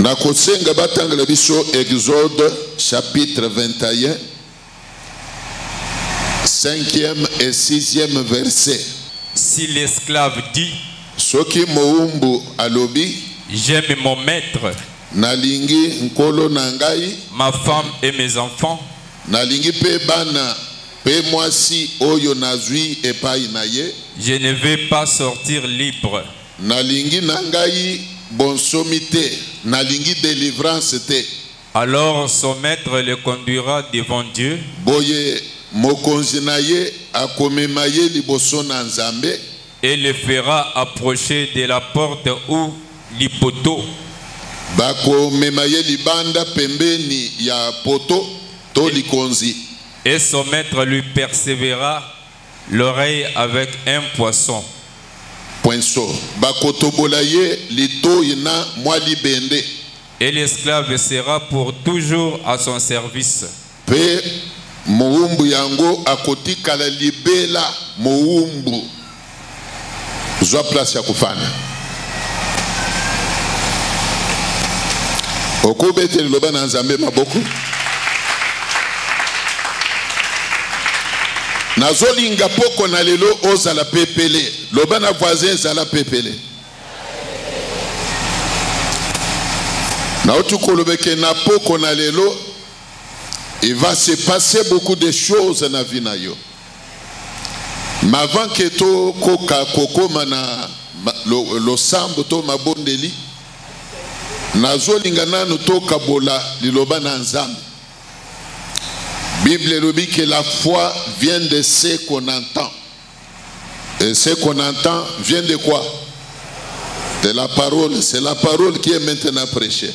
Na kosenga batangela biso Exode chapitre 21 cinquième et sixième verset. Si l'esclave dit soki mowumbu alobi j'aime mon maître nalingi nkolo na ngai ma femme et mes enfants nalingi mpe bana mpe mwasi oyo nazwi epai na ye je ne vais pas sortir libre Nalingi na ngai bonsomi te, nalingi delivrance te. Alors son maître le conduira devant Dieu. Boye mokonzi na ye akomema ye liboso na Nzambe. Et le fera approcher de la porte ou du poteau. Bakomema ye libanda pembeni ya poto to likonzi. Et son maître lui persévéra L'oreille avec un poisson. Poinso. Bakotobola ye litoyi na mwa libende. Et l'esclave sera pour toujours à son service. Pe mowumbu yango akotikala libela mowumbu. zwa place ya kofanda okobete liloba na nzambe maboko nazolinga poko na lelo ozala pepele loba na voisin ezala pepele nauti koloba eke na poko na lelo il va se passer beaucoup de choses na vie na yo Mais avant que to koka kokoma na losambo to mabondeli nazolinga nanu tokabola liloba na nzambe bible elobi que la foi vient de ce qu'on entend et ce qu'on entend vient de quoi de la parole c'est la parole qui est maintenant prêchée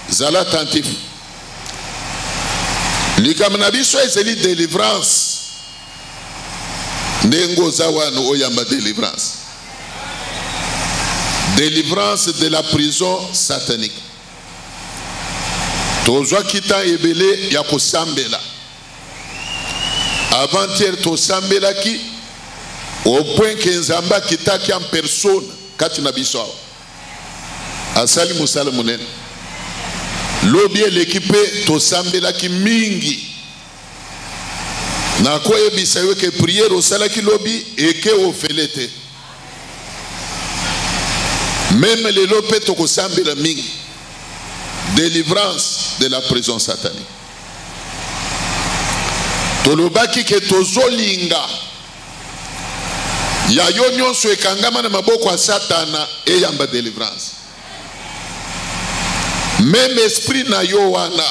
Zala attentif. Likambo na biso ezali delivrance. Ndenge oza wana oyamba delivrance. Delivrance de la prison satanique. tozwaki ntan ebele ya kosambela avantiere tosambelaki opwenke nzambe akitaki en persone kati na biso awa asali mosala monene lobi eleki mpe tosambelaki mingi nakoyebisa yo ke priere osalaki lobi eke ofele te meme lelo mpe tokosambela mingi délivrance de la prison satanique tolobaki ke tozolinga ya yo nyonso ekangama na maboko ya satana eyamba delivrance meme esprit na yo wana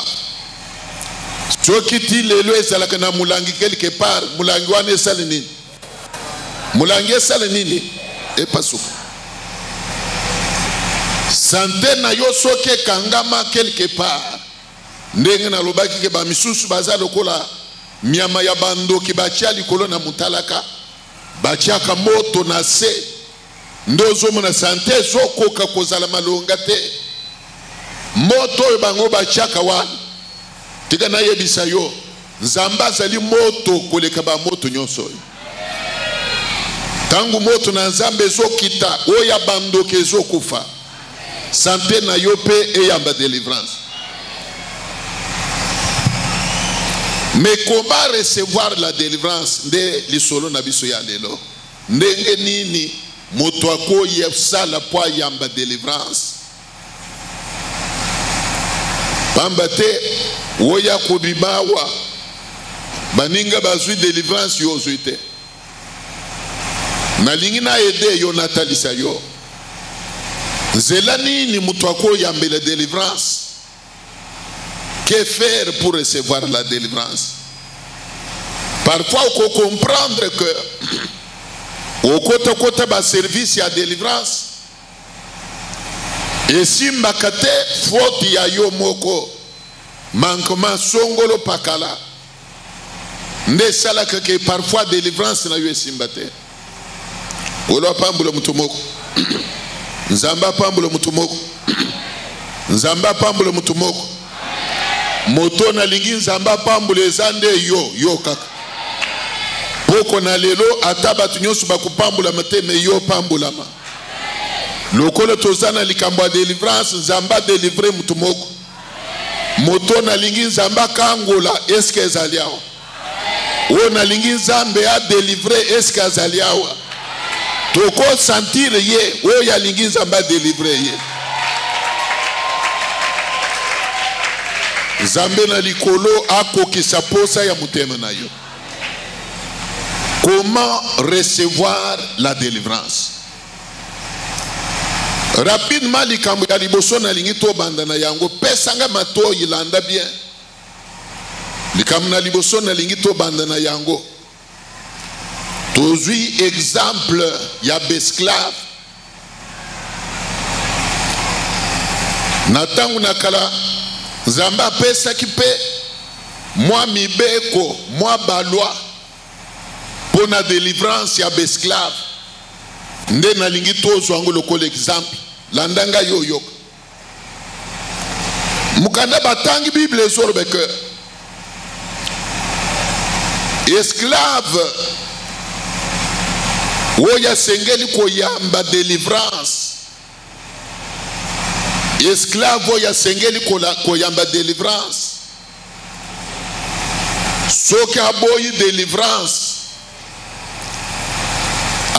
soki ti lelo ezalaka na molangi quelque part molangi wana esali nini molangi esali nini epasuka sante na yo soki ekangama quelque part Ndenge nalobaki ke ba misusu baza lokola nyama ya bandoki batia likolo na mutalaka batiaka moto na se nde ozomona sante ezokoka kozala malonga te moto oyo bango batiaka wana tika nayebisa yo Nzambe azali moto koleka ba moto nyonso oyo. Tango moto na Nzambe ezokita, oyo ya bandoki ezokufa. Sante na yo mpe eyamba delivrance. mais comment recevoir la délivrance nde lisolo na biso ya lelo ndenge nini moto akoyebsala mpo ayamba délivrance pamba te oya kobima awa baninga bazwi delivrance yo ozwi te nalingi na ede yo natalisa yo nzela nini moto akoyambela delivrance que faire pour recevoir la délivrance parfois faut comprendre que au côté côté bas service à délivrance esimbaka te foti ya yo moko mankoma songolo pakala nde esalaka ke parfois delivrance na yo esimba te kolo apambola moto moko nzambe apambola moto moko nzambe apambola moto moko moto nalingi nzambe apambola eza nde yo yo kaka poko na lelo ata bato nyonso bakopambolama te me yo opambolama lokola toza na likambo ya delivrance nzambe adelivre motu moko moto nalingi nzambe akangola eske ezali awa oyo nalingi nzambe adelivre eske azali awa tokosantire ye oyo alingi nzambe adelivre ye nzambe na likolo akokisa mposa ya motema na yo Comment recevoir la délivrance Rapidement likambo ya liboso nalingi tobanda na yango pesa ngai matoyi landa bien likambo na liboso nalingi tobanda na yango tozwi exemple ya besclave na ntango na kala nzambe apesaki mpe mwa mibeko mwa balwa mpo na delivrance ya baesclave nde nalingi tozwa yango lokola exemple landa ngai oyoka mokanda batangi bible ezoloba ke esclave oyo asengeli koyamba delivrance esclave oyo asengeli koyamba delivrance soki aboyi delivrance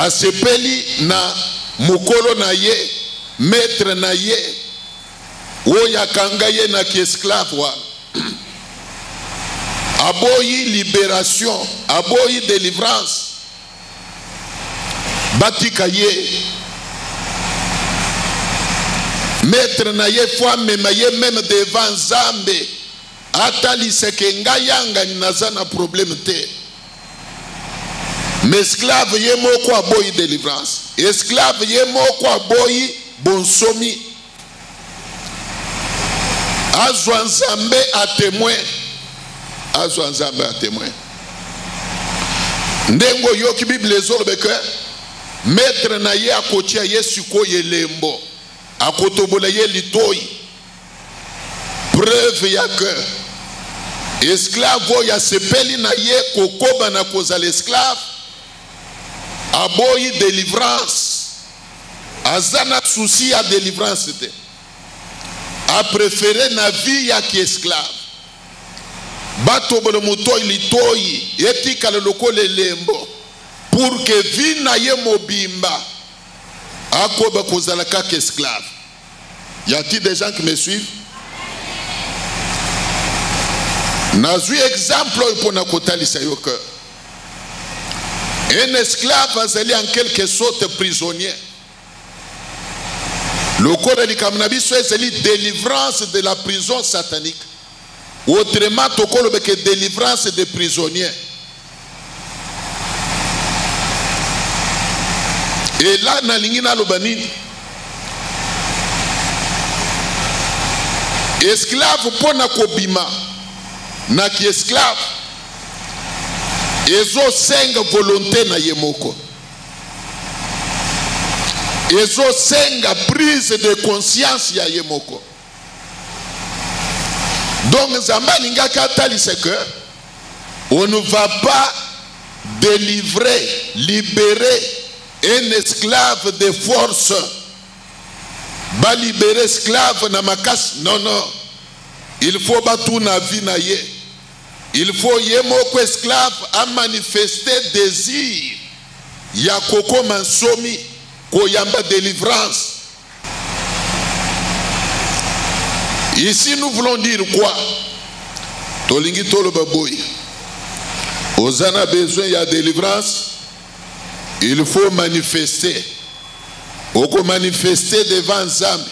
asepeli na mokolo na ye maître na ye oyo akanga ye na kiesclave wana aboyi liberation aboyi delivrance batika ye metre na ye fo amema ye meme devant nzambe ataliseke ngai yangani naza na probleme te mesclave ye moko aboyi delivrance esclave ye moko aboyi bonsomi azwa nzambe a témoin azwa nzambe a témoin ndenge oyoki biblia ezolobe ke metre na ye akotia ye sikoyo elembo akotobola ye litoi preuve ya ke esklave oyo asepeli na ye kokoba na kozala esklave aboyi delivrance aza na souci ya delivrance te aprefere na vie ya kiesclave batobola motoi litoi etikala lokola elembo pour ke vie na ye mobimba akoba kozala kaka esclave Y a-t-il des gens qui me suivent? nazwi exemple oyo mpo na kotalisa yo que un esclave azali en quelque sorte prisonnier lokola likambo na biso ezali délivrance de la prison satanique Autrement, tokoloba que délivrance des prisonniers. Et là, nalingi naloba nini? Esclave pona kobima na ki esclave ezosenga volonté na ye moko ezosenga prise de conscience ya ye moko donc nzambe alingaki atalisa que on ne va pas délivrer libérer un esclave de force balibere esclave na makasi non non il faut batuna vie na ye il faut ye moko esclave amanifeste désir ya kokoma nsomi koyamba délivrance Ici nous voulons dire quoi Tolingi tolo baboy. Ozana besoin ya délivrance il faut manifester oko manifester devant nzambe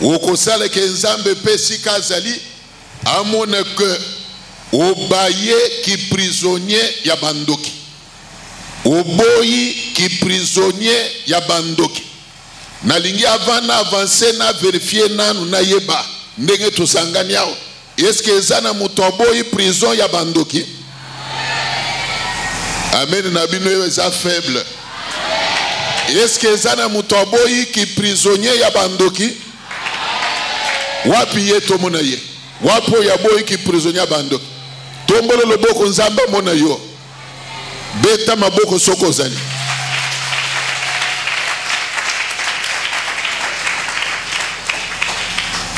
okosala ke nzambe mpe sika azali amona ke obaye kiprisonnier ya bandoki oboyi kiprisonnier ya bandoki nalingi avant na avance na verifie nanu nayeba ndenge tosangani awa eske eza na moto aboyi prison ya bandoki amen na bino oyo eza faible eske eza na moto aboyi kiprisonnier ya bandoki wapi ye tomona ye wapi oyo aboyi kiprisonnier ya bandoki tombolo loboko nzambe amona yo beta maboko soki ozali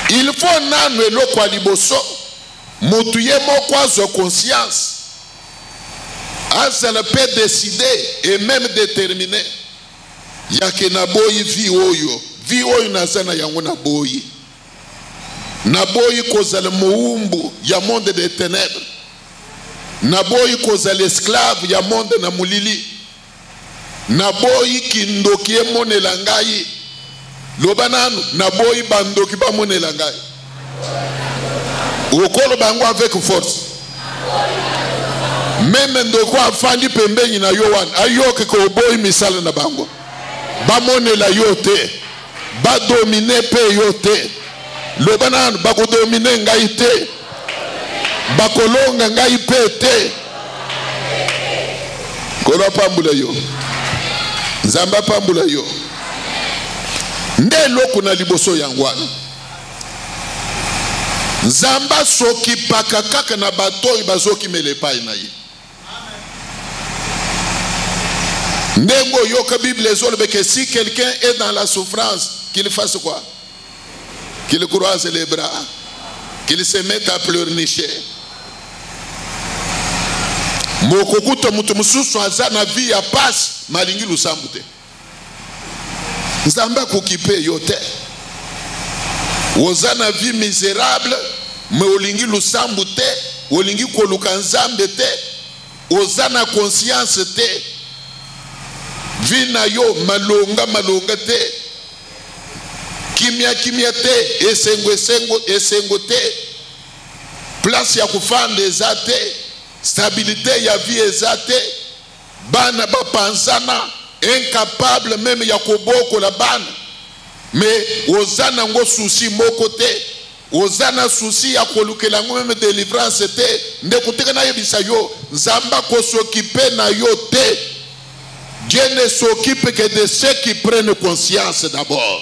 il faut nanu eloko ya liboso motu ye moko azwa conscience azala mpe décide et même détermine yake naboyi vie oyo vie oyo naza na yango naboyi naboyi kozala mowumbu ya monde de tenèbres naboyi kozala esclave ya monde na molili naboyi kindoki emonela ngai loba nanu naboyi bandoki bamonela ngai okoloba yango avec force meme ndoko afandi pembeni na yo wana ayoki koboyi misala na bango bamonela yo te badomine mpe yo te loba nanu bakodomine ngai te bakolonga ngai mpe te nkolo apambola yo nzambe apambola yo nde eloko na liboso yango wana nzambe asokipaka kaka na bato oyo bazokimela epai na ye ndenge oyoka bible ezolobeke si quelqu'un est dans la souffrance qu'il fasse quoi qu'il croise les bras qu'il se mette à pleurnicher mokokuta moto mosusu aza na vie ya pasi malingi losambo te nzambe akokipe yo te oza na vie miserable me olingi lusambu te olingi koluka nzambe te oza na conscience te vi na yo malonga malonga te kimia kimia te esengo esengo esengo te place ya kofanda eza te stabilite ya vie eza te Bana bapanzana, incapable meme ya kobokola bana. Mais oza nango souci moko te. Oza na souci ya kolukela yango meme delivrance te. Ndeko teka nayebisa yo, Nzambe akosokipe na yo te. Dieu ne s'occupe que de ceux qui prennent conscience d'abord.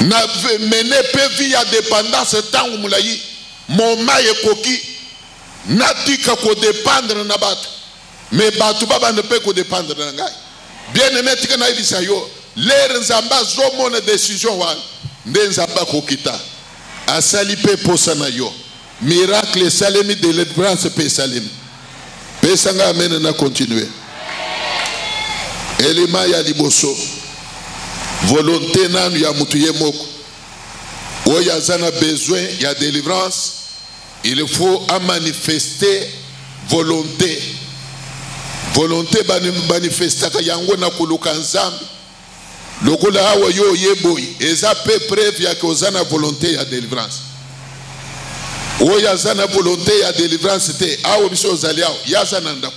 na mene mpe vi ya dependance ntango molai moma ekoki natika kodependre na bato me bato babanda mpe kodependre na ngai bien aime tika nayebisa yo lere nzambe azomona desizio wana nde nzambe akokita asali mpe mposa na yo Miracle esalemi, delivrance pe esalemi. Pesa nga amen na continuer. Elima ya liboso. Volonté nanu ya mutu ye moko. Oyo aza na besoin ya delivrance, il faut a manifester volonté. Volonté manifestaka yango na koluka Nzambe. Lokola awa yo oye boyi eza pe preuve ya ke oza na volonte ya delivrance. Oyo aza na volonte ya delivrance te awa biso ozali awa ye aza na ndako.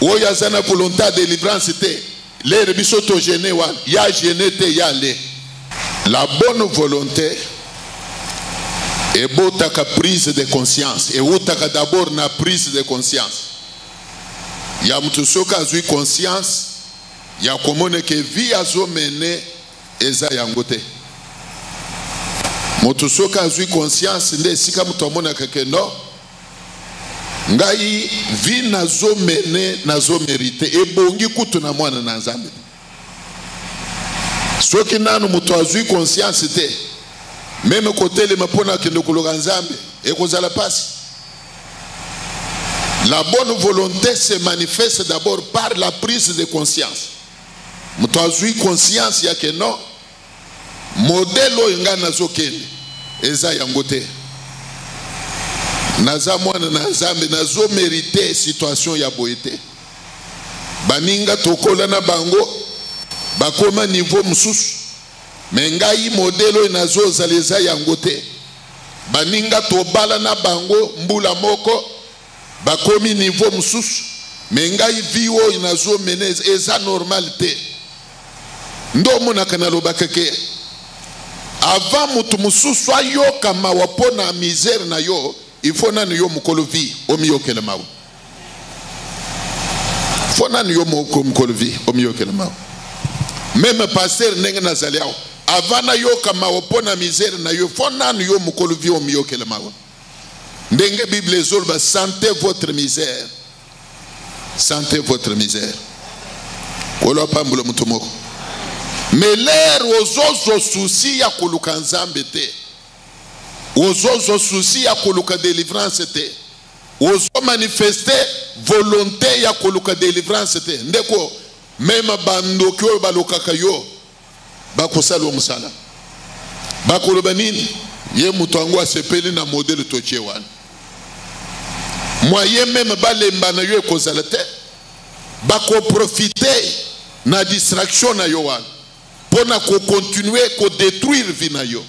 Oyo aza na volonte ya delivrance te lere biso to gene wana ye agene te ye ale. La bonne volonte ebotaka prise de conscience ewutaka d'abord na prise de conscience ya moto soki azwi conscience ya komona ke vie azo mene eza yango te moto soki azwi conscience nde esika moto amonaka ke no ngai vie nazo mene nazo merite ebongi kutu na mwana na nzambe soki nanu moto azwi conscience te meme kotelema mpo na kende koloka nzambe ekozala mpasi La bonne volonté se manifeste d'abord par la prise de conscience. Moto azui conscience ya que non modèle oyo ngai nazokende eza yango te. Naza mwana na Nzambe nazo merite situation ya boye te. Baninga tokola na bango bakoma niveau mosusu me ngai modèle oyo nazozala eza yango te. Baninga tobala na bango mbula moko bakomi niveau mosusu me ngai vie oyo nazo mene eza normal te nde omonaka nalobaka ke avant moto mosusu ayoka mawa mpo na misère na yo il faut nanu yo mokolo vie omiyokela mawa fo nani yo moko mokolo vi omiyokela mawa meme pasteur ndenge nazali awa avant nayoka mawa mpo na misere na yo fo nani yo mokolo vi omiyokela mawa ndenge bible ezoloba sante votre misère sante votre misère kolo apambola moto moko me lere ozozwa susi ya koluka nzambe te ozozwa susi ya koluka delivrance te ozo manifeste volonte ya koluka delivrance te ndeko mema bandoki oyo balokaka yo bakosala yo mosala bakoloba nini ye moto yango asepeli na modele totie wana mwaye meme balemba na yo ekozala te bakoprofite na distraction na yo wana mpo na kokontinue kodetruire vi na yo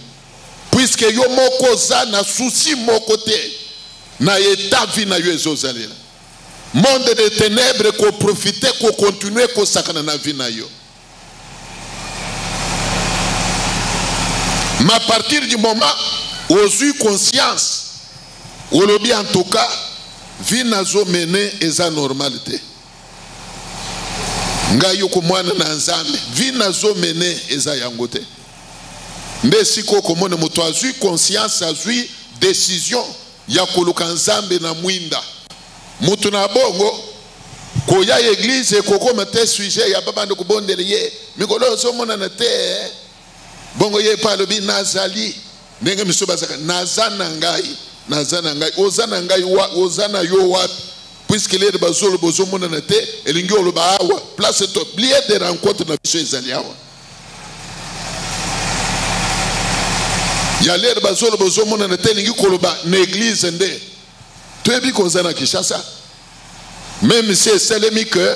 puisque yo moko oza na souci moko te na eta vie na yo ezozalela monde de ténèbres koprofite kokontinue kosakana na vie na yo ma partir du moment ozwi conscience olobi en tout cas vie nazo mene eza normal te ngai yoko mwana na nzambe vie nazo mene eza yango te nde esika okomona moto azwi conscience azwi decision ya koluka nzambe na mwinda moto na bongo koya eglize ekokoma te sujet ya babanda kobondela ye mikolo oyo ozomonana te eh? bongo ye mpe alobi nazali ndenge misusu bazaka naza na ngai naza na ngai oza na ngai oza na yo wapi puiske lede bazoloba ozomonana te elingi oloba awa place to blie de rencontre na biso ezali awa ya lere bazoloba ozomonana te elingi koloba na eglize nde toyebi koza na kinshasa meme si esalemi ke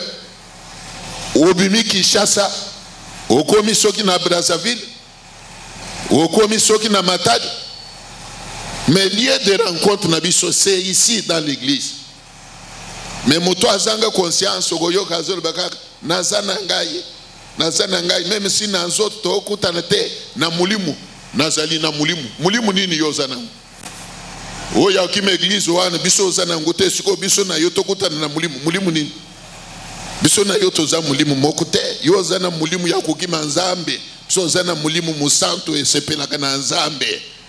obimi kinshasa okomi soki na brazzaville okomi soki na matadi mais lieu de rencontre na biso c'est ici dans l'église me moto azanga conscience okoyoka azoloba kaka naza na ngai naza na ngai meme si na nzoto tokutana te na molimo nazali na molimo molimo nini yo oza nango oyo akima eglize wana biso oza nango te sikoyo biso na yo tokutana na molimo molimo nini biso na yo toza molimo moko te yo oza na molimo ya kokima nzambe biso oza na molimo mosantu esepelaka na nzambe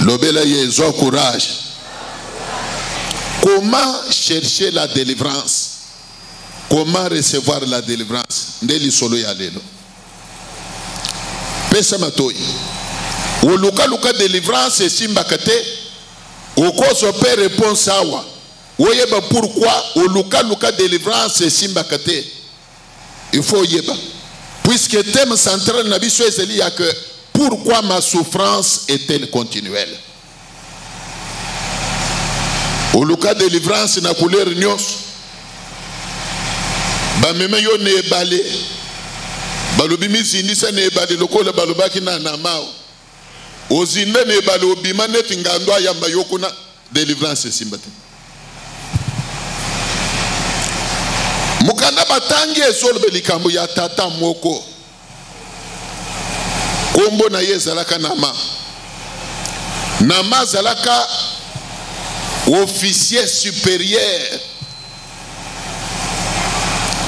lobela ye zwa courage comment chercher la délivrance comment recevoir la délivrance nde lisolo ya lelo pesa matoi olukaluka délivrance esimbaka te okozwa mpe réponse awa woyeba pourkui olukaluka délivrance esimbaka te il faut oyeba puisque thème central na biso ezali ya que pourquoi ma souffrance est-elle continuelle oluka délivrance na couleur nyonso bamema yo na ebale balobi mizindisa na ebale lokola balobaki na namao Ozinda na ebale obima neti ngando ayamba yo kuna delivrance esimba te. Mokanda batangi ezoloba likambo ya tata moko kombo na ye ezalaka Nama. Nama azalaka officier superieur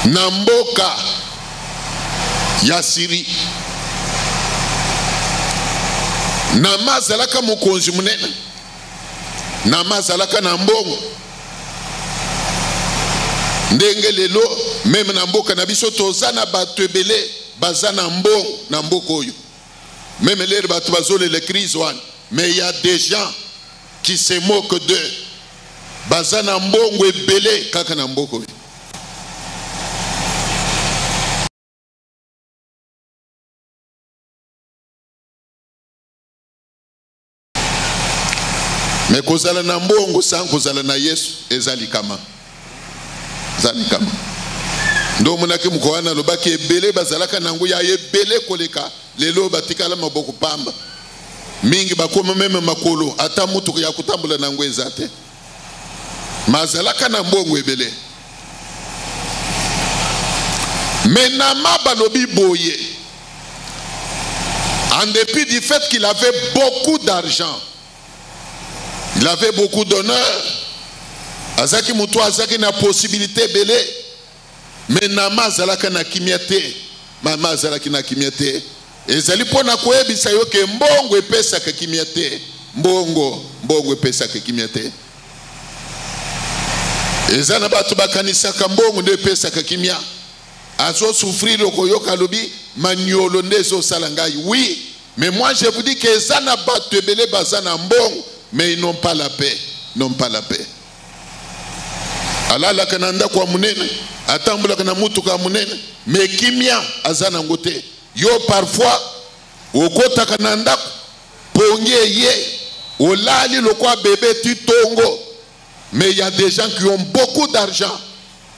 na mboka ya siri nama azalaka mokonzi monene nama azalaka na mbongo ndenge lelo meme na mboka na biso toza na bato ebele baza na mbongo na mboka oyo meme lere bato bazolela crise wana mais ya des gens qui se moque d'eux baza na mbongo ebele kaka na mboko oyo me kozala na mbongo san kozala na yesu eza likama eza likama nde omonaki moko wana alobaki ebele bazalaka na yango ya ebele koleka lelo batikala maboko pamba mingi bakoma meme makolo ata motuka ya kotambola na yango eza te ma azalaka na mbongo ebele me nama balobi boye en dépit du fait qu'il avait beaucoup d'argent il avait beaucoup d'honneur azalaki moto azalaki na possibilité ebele me nama azalaka na kimia te mama azalaki na kimia te ezali mpo na koyebisa yo ke mbongo epesaka kimia te mbongo mbongo epesaka kimia te eza na bato bakanisaka mbongo nde epesaka kimia azosufrire okoyoka alobi manyolo nde ezosala ngai wi mais moi je vous dis ke eza na bato ebele baza na mbongo mais ils n'ont pas la paix n'ont pas la paix alalaka na ndako ya monene atambulaka na motuka ya monene me kimia aza nango te yo parfois okotaka na ndako pongi eye olali lokwa bebe ti tongo mais il y a des gens qui ont beaucoup d'argent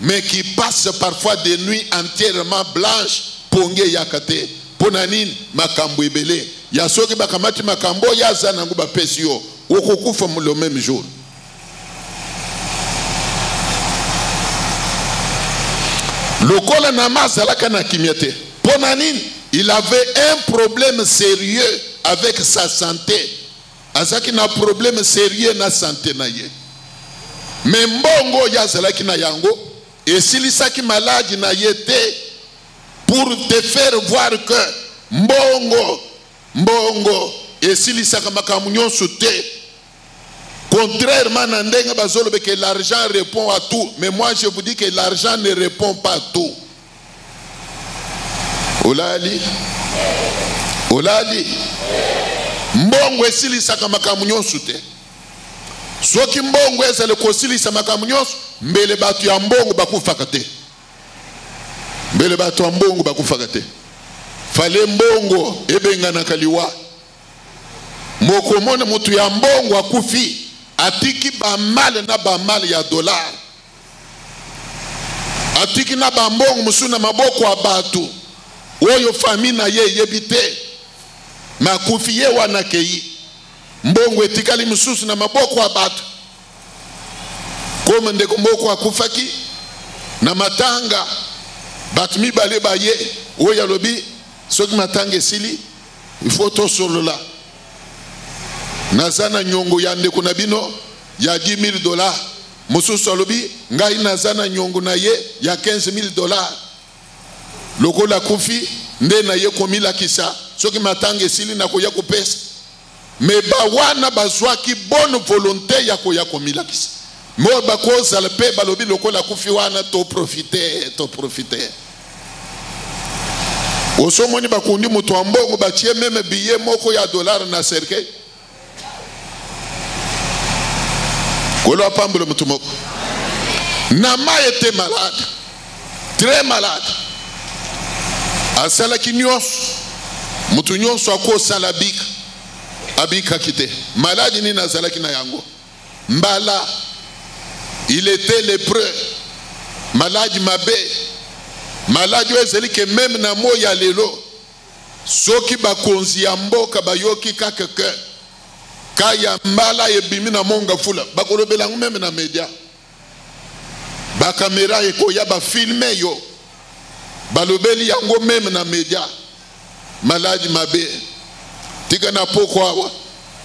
mais qui passe parfois des nuits entièrement blanches pongi eyaka te mpo na nini makambo ebele ya soki bakamati makambo oyo aza nango bapesi yo okokufa le même jour lokola nama azalaka na kimia te mpo na nini il avait un problème sérieux avec sa santé azalaki na problème serieux na sante na ye me mbongo oyo azalaki na yango esilisaki maladi na ye te pour te faire voir que mbongo mbongo esilisaka makambo nyonso te contrairement na ndenge bazolobeke l'argent répond à tout mais moi je vous dis que l'argent ne répond pas tout olali olali mbongo esilisaka makambo nyonso te soki mbongo ezali kosilisa makambo nyonso mbele bato ya mbongo bakufaka te mbele bato ya mbongo bakufaka te fale mbongo ebenganaka liwa mokomona moto ya mbongo akufi atiki bamale na bamale ya dolare atiki na bambongo mosusu na maboko ya bato oyo fami na ye eyebi te me akufi ye wana akei mbongo etikali mosusu na maboko ya bato koma ndeko moko akufaki na matanga bato mibale baye oyo alobi soki matanga esili ifo tosolola naza na nyongo ya ndeko na bino ya 10 000 dollars mosusu alobi ngai naza na nyongo na ye ya 15000 dollars lokola akufi nde na ye komilakisa soki matanga esili nakoya kopesa me bawana bazwaki bonne volonté ya koya komilakisa mo bakozala mpe balobi lokola akufi wana toprofite toprofite osomoni bakundi moto ya mbongo batie meme biye moko ya dollar na cercueil kolo apambolo motu moko na mai ete malade très malade asalaki nyonso motu nyonso akosala bika abikaki te maladi nini azalaki na yango mbala il était lépreux maladi mabe maladi oyo ezali ke meme na moi ya lelo Soki bakonzi ya mboka bayoki kaka ke ka ya mbala ebimi na mont ngafula bakolobela yango meme na media bakamera ekoya bafilme yo balobeli yango meme na media maladi mabe tika na poko awa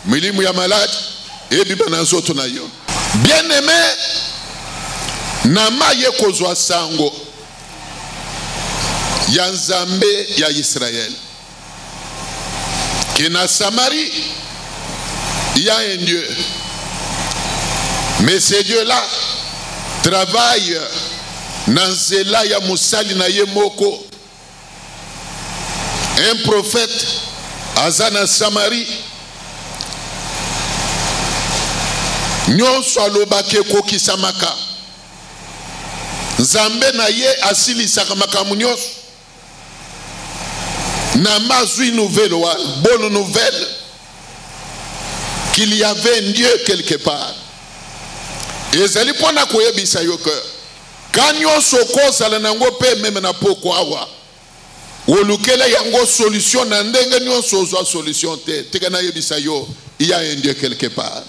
Milimu ya malade ebima na nzoto na yo. Bien aime na maye kozwa sango ya Nzambe ya Israël. Que na Samarie, il y a un Dieu. Mais ce Dieu-là travaille na nzela ya mosali na ye moko un prophète aza na samarie nyonso alobaka ekokisamaka nzambe na ye asilisaka makambo nyonso na mazwi nouvelle wana bonne nouvelle qu'il y avait un dieu quelque part ezali mpo na koyebisa yo que Cas nionso okozala na yango mpe meme na pokwa awa olukela yango solution na ndenge nionso ozwa solution te tika nayebisa yo il y a un Dieu quelque part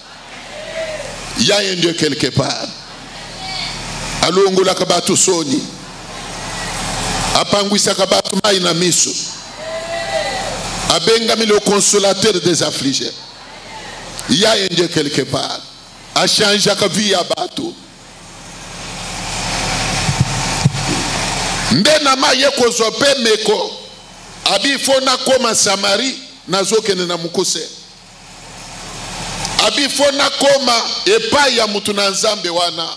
il y a un Dieu quelque part alongolaka bato soni apangwisaka bato mai na miso abengami le consolateur des affligés il y a un Dieu quelque part achangeaka vie ya bato nde nama ye kozwa mpe meko abi fo nakoma samari nazokende na mokuse abi fo nakoma epai ya moto na nzambe wana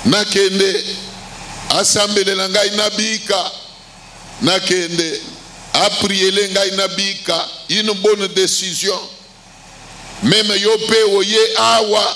nakende asambelela ngai nabika nakende apriele ngai nabika une bonne décision meme yo mpe oye awa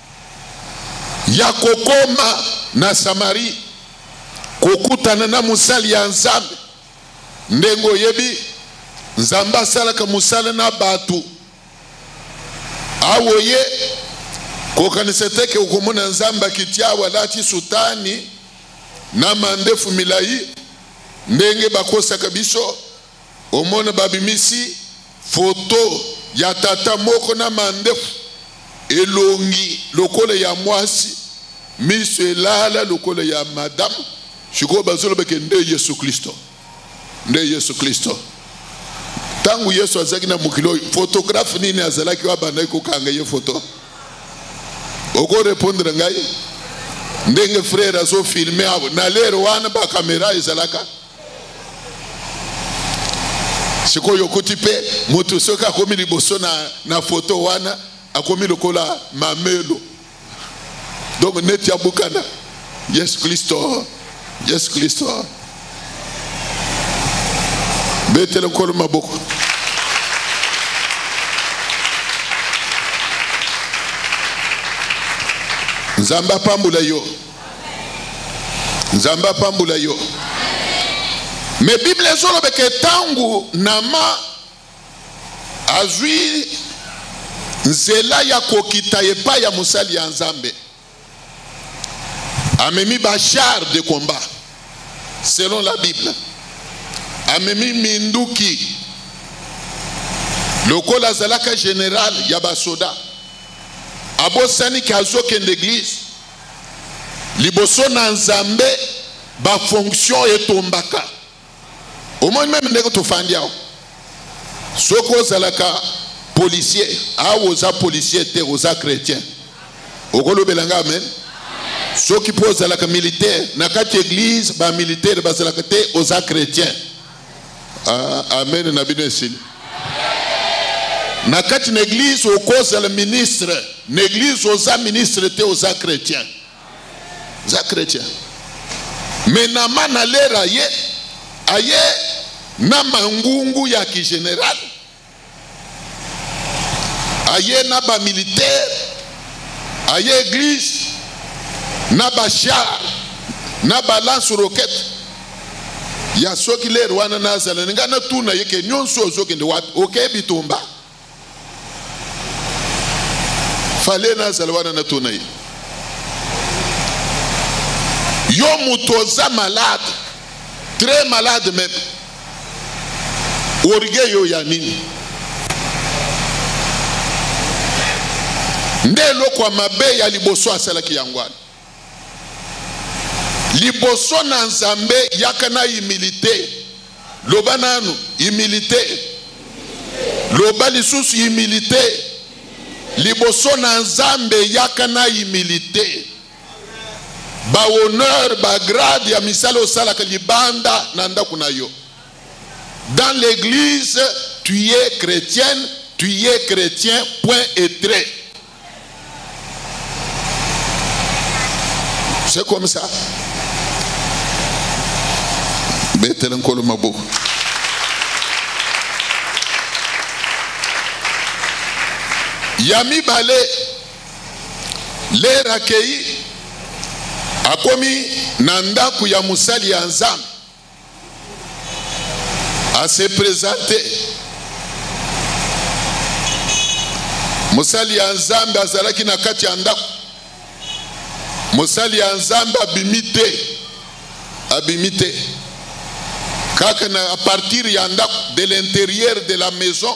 ya kokoma na Samarie kokutana na mosali ya Nzambe. Ndenge oyebi, Nzambe asalaka mosala na bato. Awa oye kokanisa te ke okomona Nzambe akiti awa alati sutani na mandefu milai ndenge bakosaka biso Omona babimisi foto ya tata moko na mandefu, elongi lokola ya mwasi, miso elala lokola ya madame. Sikoyo bazoloba ke nde Yesu Klisto, nde Yesu Klisto. Ntango Yesu azalaki na mokili oyo, fotografe nini azalaki oyo abandaki kokanga ye foto? okorepondre ngai ndenge frere azofilme na lere wana bakamera ezalaka sikoyo okuti mpe moto soki akomi liboso na, na foto wana akomi lokola mamelo donc neti abukana yesu kristo yesu kristo betele nkolo maboko nzambe apambola yo nzambe apambola yo me bible ezolobeke ntango nama azwi nzela ya kokita epai ya mosali ya nzambe amemi bachar de combat selon la bible amemi minduki lokola azalaka general ya basoda abosani ke azokende eglize liboso na nzambe bafonction etombaka omoni meme ndenge tofandi awa soki ozalaka policier awa oza policier te oza chrétien okolobela nga amen soki mpo ozalaka militaire na kati eglize bamilitaire bazalaka te oza chrétien Ah, amen na bino esili na kati na eglize okozala ministre na eglize oza ministre te oza chrétien oza chrétien me nama na lera ye aye na mangungu ya kigeneral aye na ba militaire aye église na ba char na ba lance roquette ya soki lere wana nazala ngai natuna ye ke nyonso ozokende wapi okei bitumba fale nazala wana natuna ye yo moto oza malade très malade meme orgueil yo ya nini nde eloko ya mabe ya liboso asalaki yango wana liboso na nzambe yaka na humilité loba nanu humilité loba lisusu humilité liboso na nzambe yaka na humilité ba honneur ba grade ya misala osalaka libanda na ndako na yo dans l'église tu es chrétienne tu es chrétien point et trait c'est comme ça betela nkolo maboko ya mibale Lere akei, akomi na ndako ya mosali ya Nzambe, ase presente. Mosali ya Nzambe azalaki na kati ya ndako. Mosali ya Nzambe abimi te, abimi te kaka na a partir ya ndako, de l'interieur de la maison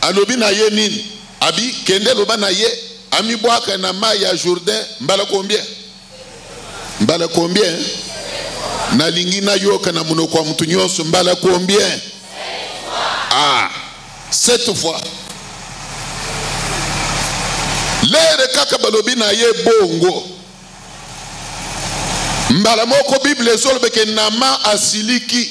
Alobi na ye nini? Abi, Kende loba na ye amibwaka na mayi ya Jourdain mbala combien? Mbala combien? Nalingi nayoka na monoko ya moto nyonso mbala combien? Ah, sept fois. Lere kaka balobi na ye bongo. mbala moko biblia ezolobeke nama asiliki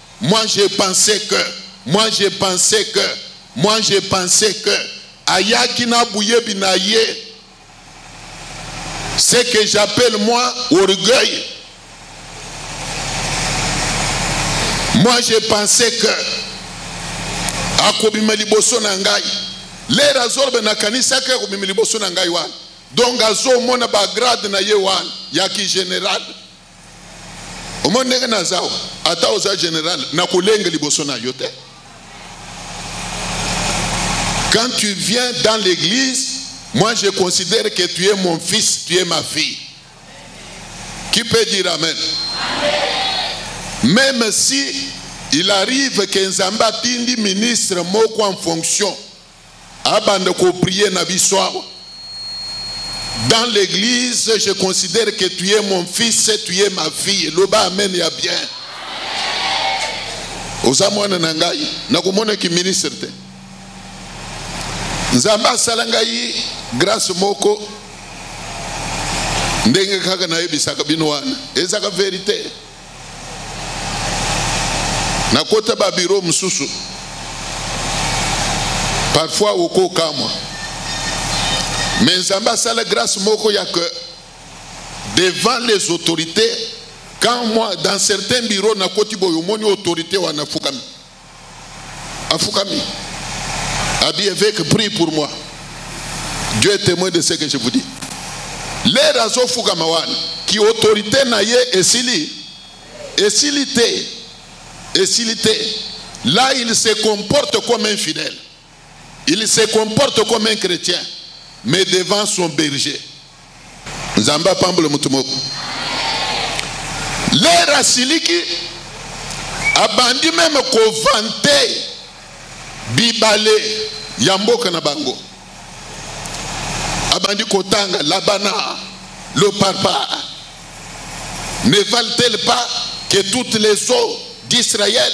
Moi je pensais que, moi je pensais que, moi je pensais que, ayaki na buyebi na ye. Ce que j'appelle moi orgueil. Moi je pensais que, akobima liboso na ngai. Lere azoloba nakanisaki akobima liboso na ngai wana. Donc azomona bagrade na ye wana ya ki general. omoni ndenge naza o ata oza général nakolenge liboso na yo te quand tu viens dans l'église moi je considère que tu es mon fils tu es ma fille qui peut dire amen, amen. même si il arrive que nzambe atindi ministre moko en fonction abanda ko prier na biso awa dans l'église je considère que tu es mon fils tu es ma fille loba amen ya bien oza mwana na ngai nakomonaki ministre te nzambe asala ngai grâce moko ndenge kaka nayebisaka bino wana ezaka verite nakota babiro mosusu parfois okokamwa mais nzambe asala grâce moko ya que devant les autorités quand moi dans certains bureaux nakoti boye omoni autorité wana afukami afukami abi évêque prie pour moi dieu est témoin de ce que je vous dis lere azofukama wana ki autorité na ye esili esili te esili te là il se comporte comme un fidèle Il se comporte comme un chrétien, mais devant son berger. Nzamba pambolo mutumoko. L'air asiliki abandi même vante bibale ya mboka na bango. Abandi kotanga labana le papa ne valent-elles pas que toutes les eaux d'Israël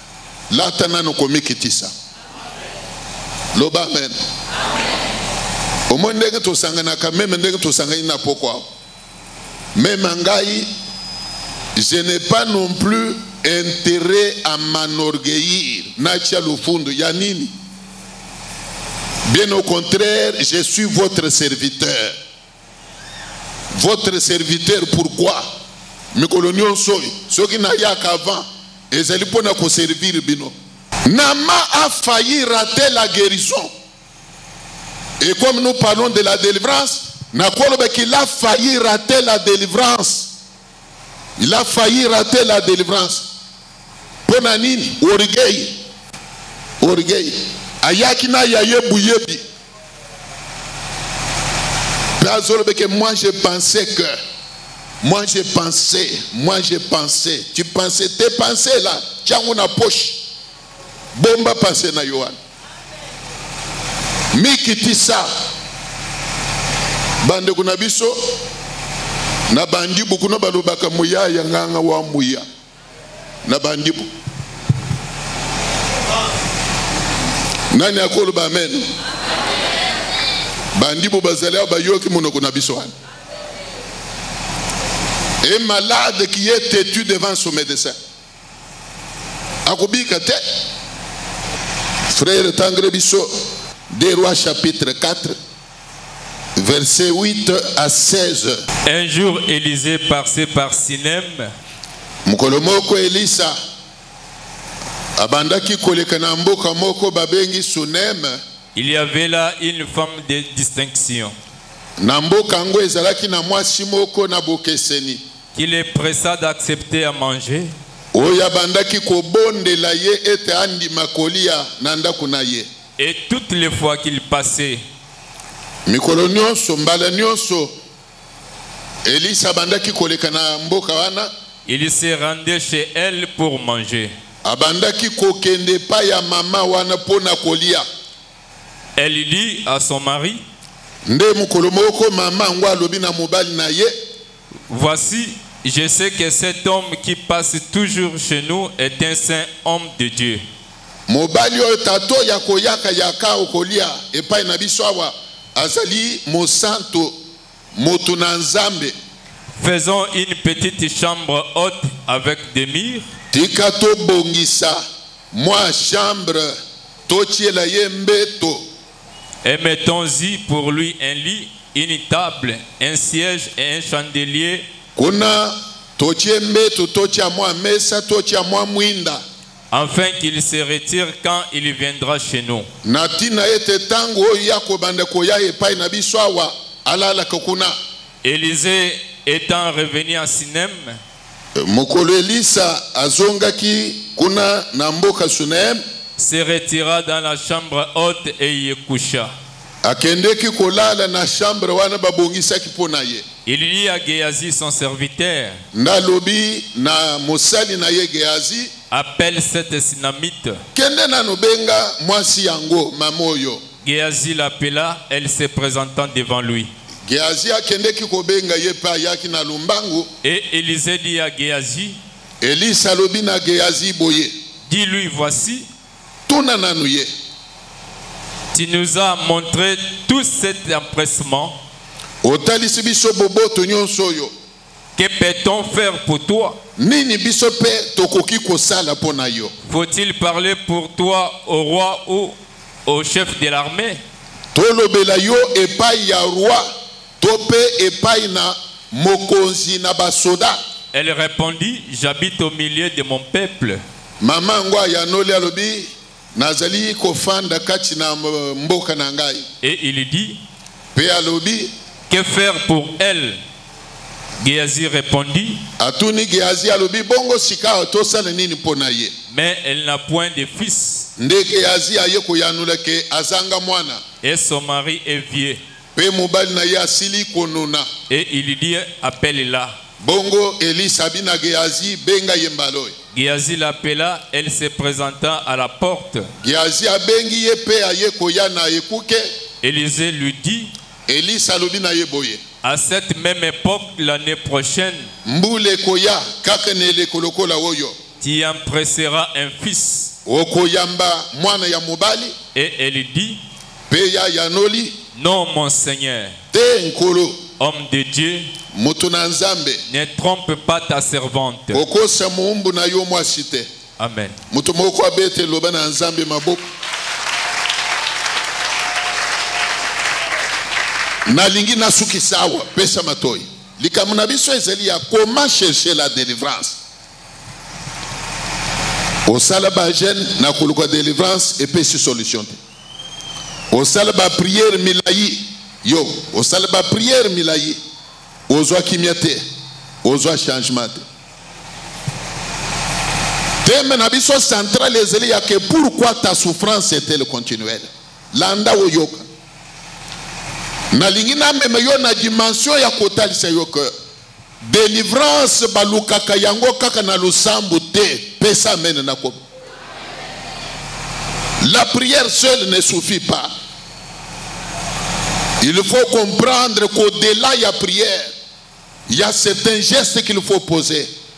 Lata nano komikitisa. Loba amen. Omoni ndenge tosanganaka meme ndenge tosangani na pokwa. Meme ngai je n'ai pas non plus intérêt à m'enorgueillir natia lofundu ya nini bien au contraire je suis votre serviteur votre serviteur pourquoi mikolo nyonso oyo soki nayaka avant ezali mpo na koservire bino nama a failli rater la guérison et comme nous parlons de la délivrance nakoloba qu'il a failli rater la délivrance il a failli rater la délivrance mpo na nini orgueil orgueil ayaki na ya ye boyebi mpe azolobeke moi je pensais que moi je pensais moi je pensais tu pensais te pensais là tiango na poche bomba pensée na yo wana mikitisa bandeko na biso na bandibu kuna balobaka moya ya nganga wa moya na bandibu nani akoloba amen, amen. bandibu bazali awa bayoki monoko na biso wana et malade qui est têtu devant son médecin akobika te frere tangele biso de roi chapitre 4 verset 8 à 16 un jour élysée passait par sinem mokolo moko elisa abandaki koleka na mboka moko babengi suneme il y avait là une femme de distinction na mboka yango ezalaki na mwasi moko na bokeseni Qu'il est pressa d'accepter à manger. Oyo abandaki kobondela ye ete andima kolia na ndako na ye. Et toutes les fois qu'il passait. Mikolo nyonso, mbala nyonso, Elisa abandaki koleka na mboka wana. Il se rendait chez elle pour manger. Abandaki kokende epai ya mama wana mpo na kolia. Elle dit à son mari. Nde mokolo moko mama yango alobi na mobali na ye. Voici, je sais que cet homme qui passe toujours chez nous est un saint homme de Dieu. Mobali oyo tato ya koyaka yaka okolia epai na biso awa azali mosanto moto na Nzambe. Faisons une petite chambre haute avec des murs. Tika tobongisa mwa chambre totiela ye mbeto. Et mettons-y pour lui un lit, une table, un siège et un chandelier. Kuna totie mbeto, totia mwa mesa, totia mwa mwinda. Afin qu'il se retire quand il viendra chez nous. Na tina ete tango oyo ya kobanda koya epai na biso awa alalaka kuna. Élisée étant revenu à Sinem. Mokolo Elisa azongaki kuna na mboka Sunem. Se retira dans la chambre haute et y coucha. Akendeki kolala na chambre wana babongisaki mpo na ye. Il dit à Gehazi son serviteur. Nalobi na mosali na ye Gehazi. Appelle cette Sinamite. Kende nano benga mwasi yango mamoyo. Gehazi l'appela, elle se présentant devant lui. Gehazi akendeki kobenga ye mpe ayaki na lombangu. Et Élisée dit à Gehazi. Elisa alobi na Gehazi boye. Dis-lui voici. Tuna nanu ye. Tu nous as montré tout cet empressement. Otalisi biso boboto nyonso oyo. Que peut-on faire pour toi? Nini biso pe tokoki kosala mpo na yo? Faut-il parler pour toi au roi ou au chef de l'armée? Tolobela yo epai ya roi to pe epai na mokonzi na basoda. Elle répondit, j'habite au milieu de mon peuple. Mama yango ayanoli alobi, Nazali kofanda kati na mboka na ngai. Et il dit. Pe alobi. Que faire pour elle? Gehazi répondit. Atuni Gehazi alobi bongo sikawa tosala nini mpo na ye? Mais elle n'a point de fils. Nde Gehazi aye koyanula ke azanga mwana. Et son mari est vieux. Mpe mobali na ye asili konuna. Et il lui dit, appelle-la. Bongo Elisa abi na Gehazi, benga ye mbala oyo. Gehazi l'appela, elle se présenta à la porte. Gehazi abengi ye mpe aye koya na ekuke. Elisee lui dit, Elisa alobi na ye boye. À cette même époque l'année prochaine, Mbula ekoya kaka na eleko lokola oyo. tu empresseras un fils. Okoyamba mwana ya mobali. Et elle dit, Mpe ye ayanoli. Non, mon Seigneur. Te, Nkolo. Homme de Dieu. Moto na Nzambe. Ne trompe pas ta servante. Kokosa moumbu na yo mwasi te. Amen. Moto moko abete loba na Nzambe maboko. nalingi nasukisa awa pesa matoi likambo na biso ezali ya comment chercher la délivrance osala bagene na koluka délivrance epesi solution te osala ba prière milayi yo osala ba prière milayi ozwa kimia te ozwa changement te teme na biso central ezali ya ke pourquoi ta souffrance etele continuelle landa oyoka nalingi namema yo na dimension ya kotalisa yo ke Delivrance balukaka yango kaka na losambo te. Pesa amen na komi. La prière seule ne suffit pas. Il faut comprendre qu'au-delà de la prière, il y a certains gestes qu'il faut poser.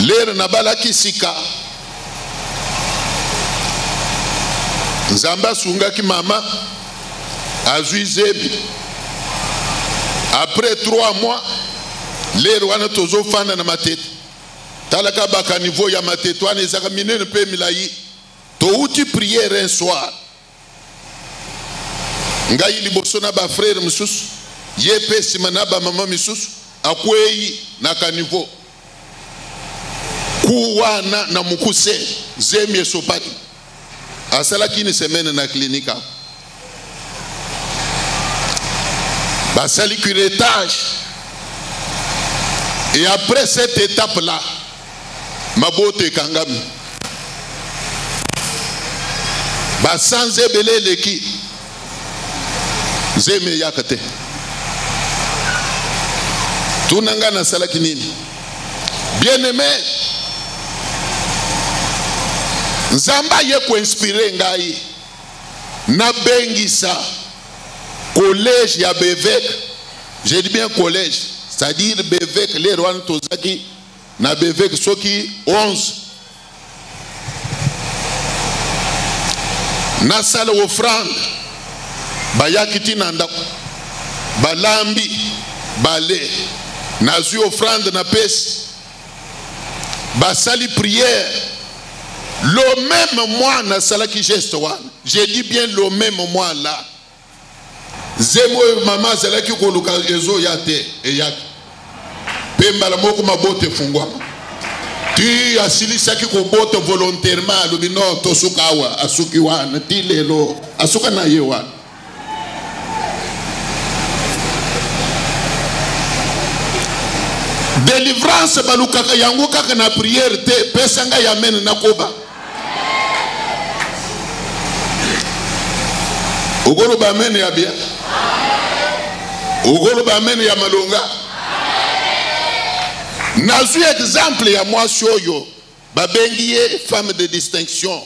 lere nabalaki sika nzambe asungaki mama azwi zebi après 3 mois lere wana tozofanda na matete talaka bakaniveau ya matete wana ezaka minene mpe milai touti priere un soir ngai liboso na bafrere mosusu ye mpe nsima na bamama misusu akwei na kanivo ku wana na mokuse zemi esopaki asalaki ni semene na klinika basali curetage et après cette étape là mabota ekangami basanza ebele eleki zemi eyaka te tuna ngai nasalaki nini bien aime nzambe aye koinspire ngai nabengisa collège ya beveke je dis bien collège c'est-à-dire beveke lero wana tozalaki na beveke soki 11 nasala ofrande bayaki ti na ndako balambi bale nazwi ofrande napesi basali prière le même mois nasalaki geste wana je dis bien le même mois là zemi oyo mama azalaki koluka ezoya te eyaki mpe mbala moko mabota efungwama ti asilisaki kobota volontairement alobi no tosuka awa asuki wana ti lelo asuka na ye wana delivrance balukaka yango kaka na priere te pesa ngai amene nakoba okoloba amene ya bien okoloba amene ya malonga nazwi exemple ya mwasi oyo babengi ye femme de distinction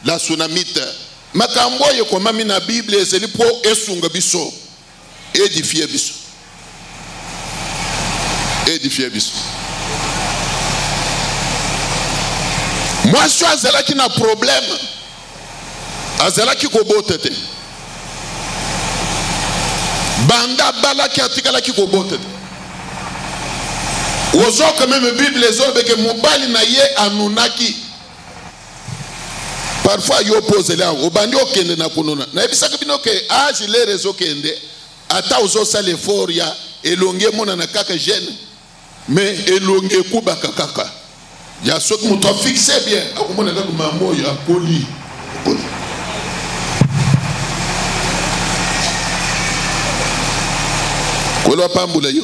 la sunamite makambo oyo ekomami na biblia ezali mpo esunga biso edifie biso edifie biso mwasi oyo azalaki na probleme azalaki kobota te banda abalaki atikalaki kobota te ozoka meme bible ezolobeke mobali na ye anunaki parfois yo mpe ozeli yango obandi okende na kununa nayebisaki bino ke age lere ezokende ata ozosala effort ya elongi emonana kaka jeune mais elongi ekubaka kaka ya soki moto afixe bien akomona kaka mama oyo akoli kolo apambula yo